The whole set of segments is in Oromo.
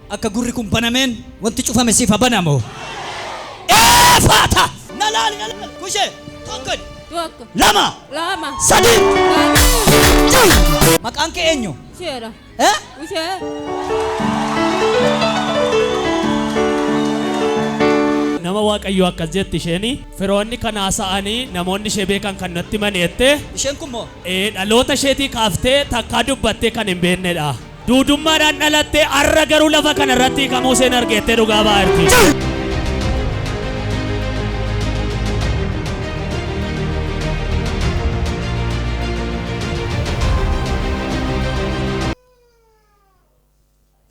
Akka gurri kun banameen wanti cufame siif haa banamu. Eefaata! Na laali na laali. Kushee tokko Tokko. lama Lama. sadii. Lama. Maqaan kee eenyu? Usheedha. Eh? Ushee. Nama Waaqayyoo akkas jetti isheen firoonni kan haasa'anii namoonni ishee beekan kan natti himan jette Isheen kun moo? eh, dhaloota isheetii kaaftee takkaa dubbattee kan hin beeknedha. Duudummaadhaan dhalattee har'a garuu lafa kana irratti hiikamuu isheen argeettee dhugaa ba'aa jirti.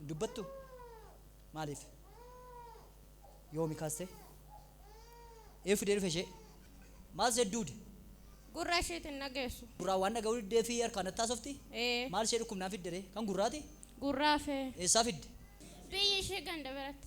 dubbattu maaliif Yoomi kaste? Eeyuu fidee dhufe ishee? Maal seet duude? Gurra isheeti hin dhageessu. Gurraan waan dhaga'uu diddeefi harkaan natti haasofti? Ee. Maal ishee dhukkubnaan fidde ree? Kan gurraati? Gurraa fee. Eessaa fidde? Biyyi ishee ganda biratti.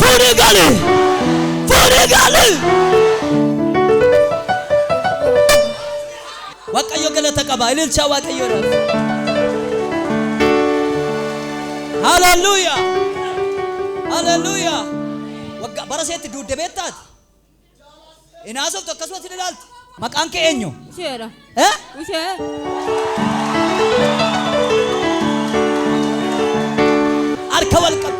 Fuudhii gali! Fuudhii gali! Waaqayyo galata qaba. Ililchaa Waaqayyoodhaaf. Haleluuyaa! Haleluuyaa! Waggaa bara seetti duudde beektaati? Hin haasoftu akkasumas hin ilaaltu. Maqaan kee eenyu? Usheedha. Eh? Ushee. Harka wal qabu.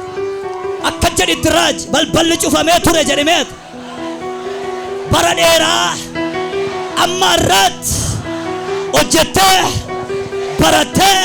Akka jedhitti raaj balballi cufamee ture jedhimeet. Bara dheeraa amma irraatti hojjettee barattee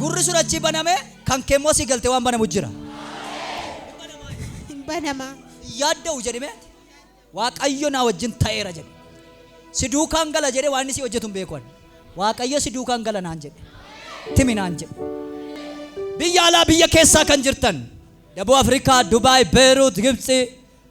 Gurri sun achii baname, kan kee immoo asii galtee waan banamu jira. Hin banama. Hin yaadda'u jedhime. Waaqayyo naa wajjin ta'eera jedhe. Si duukaan gala jedhe waan inni si hojjetu hin beeku. ani. Waaqayyo si duukaan gala naan jedhe. Timi naan jedhe. Biyya alaa biyya keessaa kan jirtan. Daboo Afrikaa, Dubaay, Beeruut, Gibtsi,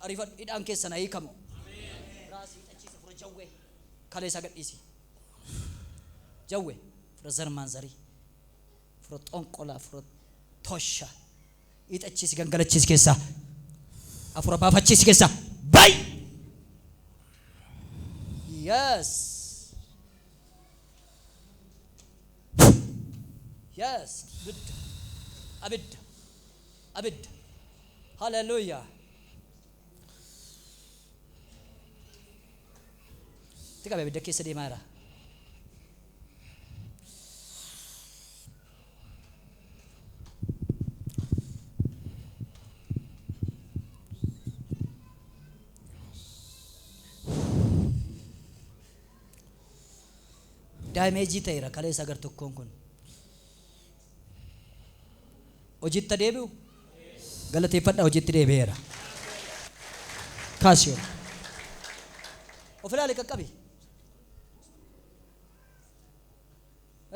Arifadhu hidhaan keessan haa hiikamu. Biraa sii hidhachiisa fura jawwee. Kalee isaa gadhiisi. Jawwee fura zarmaan zarii. Fura xonqolaa fura tosha. Hidhachiisi gangalachiisi keessaa. Afura baafachiisi keessaa. Bay! Yes. Yes. Abidda. Abidda. Abidda. Hallelujah. Itti qabe abidda keessa deemaa jira. Daameejii ta'eera kaleessa gar tokkoon kun. Hojiitti ha deebi'u? Galateeffadhaa hojiitti deebi'eera. Kaasi ol. Of ilaali qaqqabi.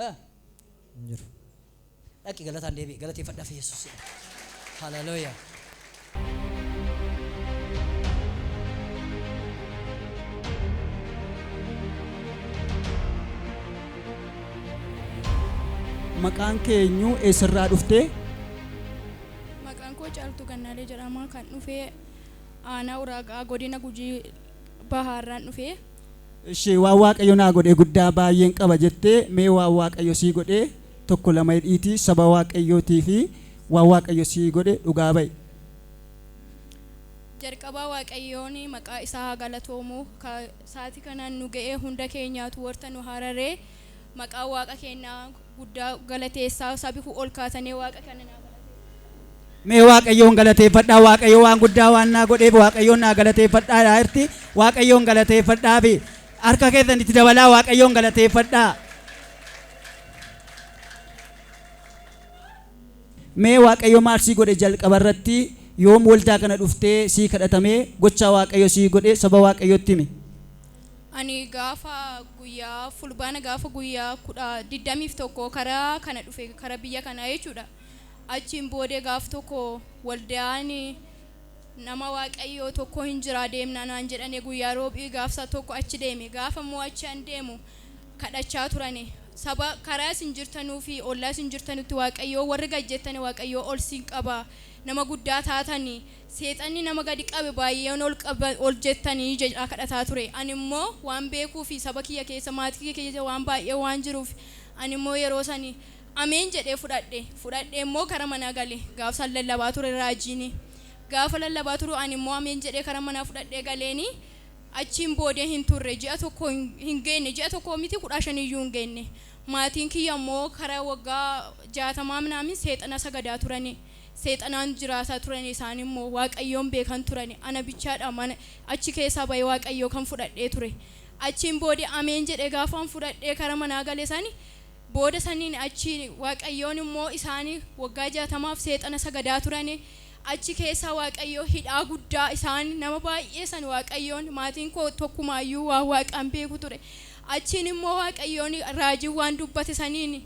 Eh, hin jiru. Dhaqi galataan deebi'i. Galateeffadhaaf Yesuus. Haleluuyaa. Maqaan kee eenyu? Eessarraa dhufte? Maqaan koo Caaltuu Gannaalee jedhama. Kan dhufee aanaa Uraaga'aa godina Gujii Bahaarraan dhufee. Ishee waan Waaqayyo naa godhe guddaa baay'een qaba jettee mee waan Waaqayyo sii godhe tokko lama hidhiitii saba waaqayyootii fi waan waaqayyo sii godhe dhugaa ba'i. Jalqabaa waaqayyoon maqaa isaa haa galatoomu ka saati kana nu ga'ee hunda keenyaatu warta nu hararee maqaa waaqa keennaa guddaa galateessaa sabi kun ol kaatanee waaqa kana naa galateessaa. Mee waaqayyoon galateeffadhaa waaqayyo waan guddaa waan naa godheef waaqayyoon naa galateeffadhaa dhaa irti waaqayyoon galateeffadhaa fi harka keessan itti dabalaa waaqayyoon galateeffadhaa. Mee waaqayyo maal sii godhe jalqaba irratti yoom waldaa kana dhuftee sii kadhatamee gochaa waaqayyo sii godhe saba waaqayyootti himi. Ani gaafa guyyaa fulbaana gaafa guyyaa kudha digdamiif tokko kara kana dhufe kara biyya kanaa jechuudha. Achiin boodee gaaf tokko waldaan nama waaqayyoo tokko hin jiraa deemnaa naan jedhane guyyaa roobii gaafsa tokko achi deeme gaafa immoo achi an deemu kadhachaa turani saba karaa isin jirtanuu fi ollaa isin jirtanutti waaqayyoo warri gad jettani waaqayyoo ol siin qaba nama guddaa taatani seexanni nama gadi qabe baay'een ol qaba ol jettani jedhaa kadhataa ture ani immoo waan beekuu fi saba kiyya keessa maatii kiyya keessa waan baay'ee waan jiruuf ani immoo yeroo sani ameen jedhee fudhadhe fudhadhee immoo gara manaa gale gaaf san lallabaa ture raajiini gaafa lallabaa turu ani immoo ameen jedhee karan manaa fudhadhee galeeni Achiin booda hin turre, ji'a tokko hin geenne, ji'a tokkoo miti kudhaa shan iyyuu hin geenne. Maatiin kiyya immoo kara waggaa jaatamaa minaamin seexana sagadaa turani. Seexanaan jiraataa turani isaan immoo. Waaqayyoon beekan turani. Ana bichaa dha mana achi keessaa ba'ee Waaqayyoo kan fudhadhee ture. Achiin booda ameen jedhee gaafaan fudhadhee kara manaa gale sani booda saniin achi Waaqayyoon immoo isaani waggaa jaatamaaf seexana sagadaa turani. Achi keessa Waaqayyo hidhaa guddaa isaan nama baay'ee san Waaqayyoon maatiin koo tokkumaayyuu waan Waaqa hin beeku ture. Achiin immoo Waaqayyoon raajiin waan dubbate saniin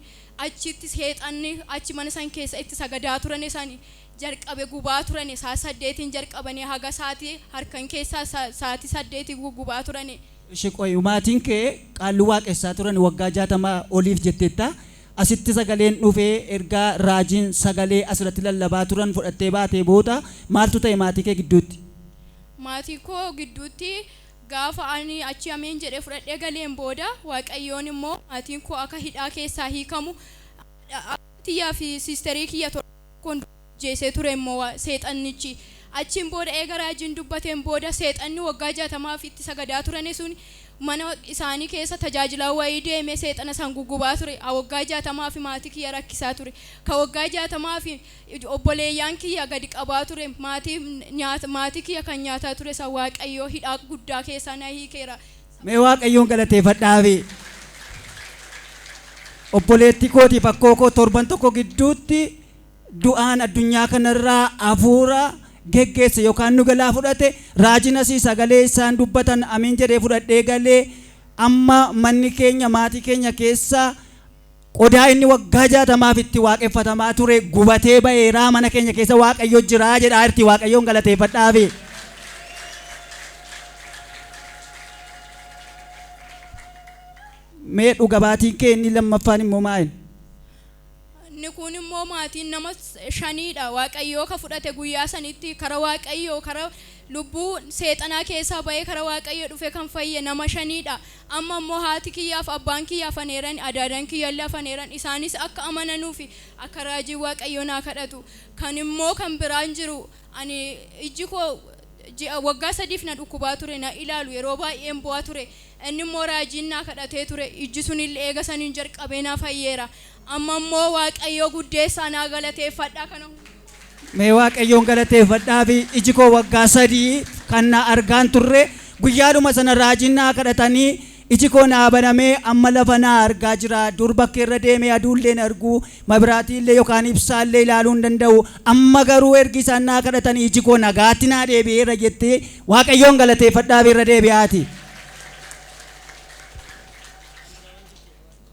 achitti seexanni achi mana san keessa itti sagadaa turane san jalqabe gubaa turane saa saddeetiin jalqabanii haga saati harkan keessaa sa saati saddeeti gugubaa turane. Eshi qoy maatiin kee qaalluu waaqessaa turan waggaa jaatamaa oliif jetteetta Asitti sagaleen dhufe erga raajiin sagalee asirratti lallabaa turan fudhattee baatee booda maaltu ta'e maatii kee gidduutti? Maatii koo gidduutti gaafa ani achi ameen jedhee fudhadhee galeen booda waaqayyoon immoo maatiin koo akka hidhaa keessaa hiikamu abbaa kiyyaa fi sisterii kiyya torba. kun ajjeesee ture immoo seexannichi. Achiin booda eega raajiin dubbateen booda seexanni waggaa 60f itti sagadaa turani sun mana isaanii keessa tajaajilaa wayii deemee seexana san gugubaa ture. A waggaa 60fi maatii kiyya rakkisaa ture. Ka waggaa 60fi obboleeyyaan kiyya gadi qabaa ture maatii maatii kiyya kan nyaataa ture san Waaqayyoo hidhaa guddaa keessaa na hiikeera. Mee waaqayyoon galateefadhaafi. Obboleettii kootiif akkoo koo torban tokko gidduutti du'aan addunyaa kanarraa hafuura geggeesse yookaan nu galaa fudhate raajiin asii sagalee isaan dubbatan amiin jedhee fudhadhee galee amma manni keenya maatii keenya keessa Qodaa inni waggaa jaatamaaf itti waaqeffatamaa ture gubatee ba'eeraa mana keenya keessa waaqayyo jiraa jedhaa irti waaqayyoon galateeffadhaafi. Mee dhuga baatiin kee inni lammaffaan immoo maa'in? Inni kun immoo maatiin nama shaniidha waaqayyoo ka fudhate guyyaa sanitti kara waaqayyoo kara Lubbuu seexanaa keessaa ba'ee kara Waaqayyoo dhufe kan fayye nama shanii dha. Amma immoo haati kiyyaa fi abbaan kiyya hafaneerani, adaadan kiyya illee hafaneeran, isaanis akka amananuu fi akka raajiin Waaqayyoo naa kadhatu. Kan immoo kan biraan jiru, ani ijji koo ji'a, waggaa sadiif na dhukkubaa ture, na ilaalu, yeroo baay'een boo'a ture. Inni immoo raajiin naa kadhatee ture, ijji sun illee eega saniin jalqabee naa fayyeera. Amma immoo Waaqayyoo guddeessaa naa galateeffadhaa kana hundumaa. Mee Waaqayyoon galateeffadhaafi iji koo waggaa sadii kan na argaan turre guyyaadhuma sana raajiin naa kadhatanii iji koo naa banamee amma lafa naa argaa jira dur bakkeerra deemee aduullee hin argu mabiraatiillee yokaan ibsaallee ilaaluu hin danda'u amma garuu ergi isaan naa kadhatanii iji koo nagaatti naa deebi'eera jetti Waaqayyoon galateeffadhaafi irra deebi'aati.